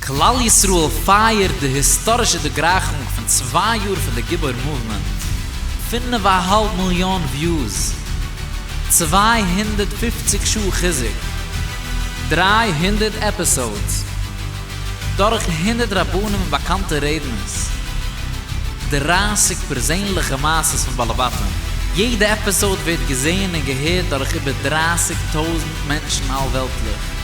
כלל ישראל פייערט די היסטארישע דערגרייכונג פון צוויי יאר פון די גיבור מאוומענט, פינף א האלב מיליאן וויוס, צוויי הונדערט פֿופֿציק שעה חיזוק, דרײַ הונדערט עפיסאודס, דורך הונדערט רבנים און באקאנטע רעדנערס, דרײַסיק פערזענליכע מעשות פון בעלי בתים, יעדע עפיסאוד ווערט געזען און געהערט דורך איבער דרײַסיק טויזנט מענטשן אלוועלטליך.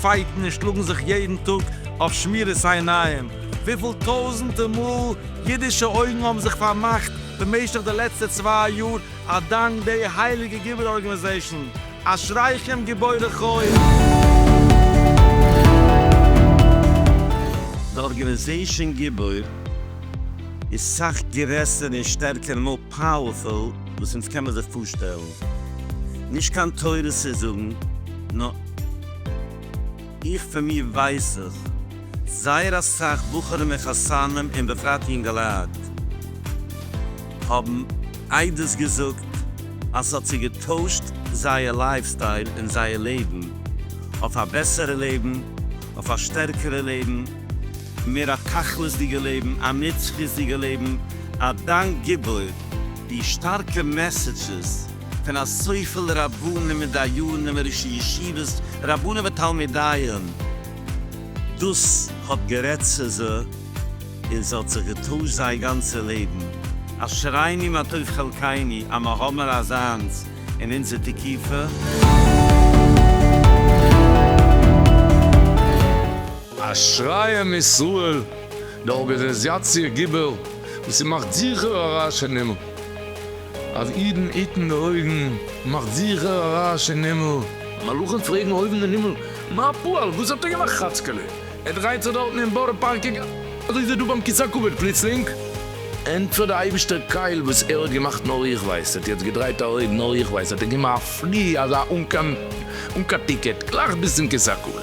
פייטן און שלאגן זיך יעדן טאג אויף שמירת העיניים, וויפיל טויזענטע מאל אידישע אויגן האבן זיך פארמאכט במשך די לעצטע צוויי יאר אדאנק די הייליגע גיבור ארגענעזעישן, אשריכם גיבורי חול! די ארגענעזעישן גיבור איז סאך גרעסער און שטערקער פאוערפול וואס אונז קען מען זיך פארשטעלן, נישט קיין תורה צו זאגן, נאר איך פון מיר ווייס זיך, זייער אסאך בחורים און חתנים און בפרט יונגעלייט האבן עדות געזאגט אז ס'האט זיי געטוישט זייער לייף סטייל און זייער לעבן אויף א בעסערע לעבן, אויף א שטערקערע לעבן. מיר א תכלית'דיגע לעבן, א נצחיות'דיגע לעבן, א דאנק גיבור די שטארקע מעסעדזשעס פון אזויפיל רבנים און דיינים און ראשי ישיבות, רבנים ותלמידיהם, דאס האט גערעדט צו זיי און עס האט זיך געטוישט זייער גאנצע לעבן, אשרינו מה טוב חלקינו אז מיר האבן אזאנס אין אונזער תקופה. אשרי עם ישראל, די ארגענעזיאציע גיבור וואס איז מאכט זיכער א רעש אין הימל, אז אידן היטן די אויגן מאכט זיכער א רעש אין הימל. מלאכים פרעגן אויבן אין הימל, מה הפועל, וואס האט ער געמאכט חאצקעלע, ער דרייט זיך דארטן אין בארא פארק אזוי איז ער דא ביים כיסא הכבוד פלוצלינג, ענטפערט די אייבישטער קייל וואס ער האט געמאכט נאר איך ווייס, ער האט יעצט געדרייט א אויג נאר איך ווייס, האט ער געמא פרי אזא אן קיין טיקעט גלייך ביז צום כיסא הכבוד.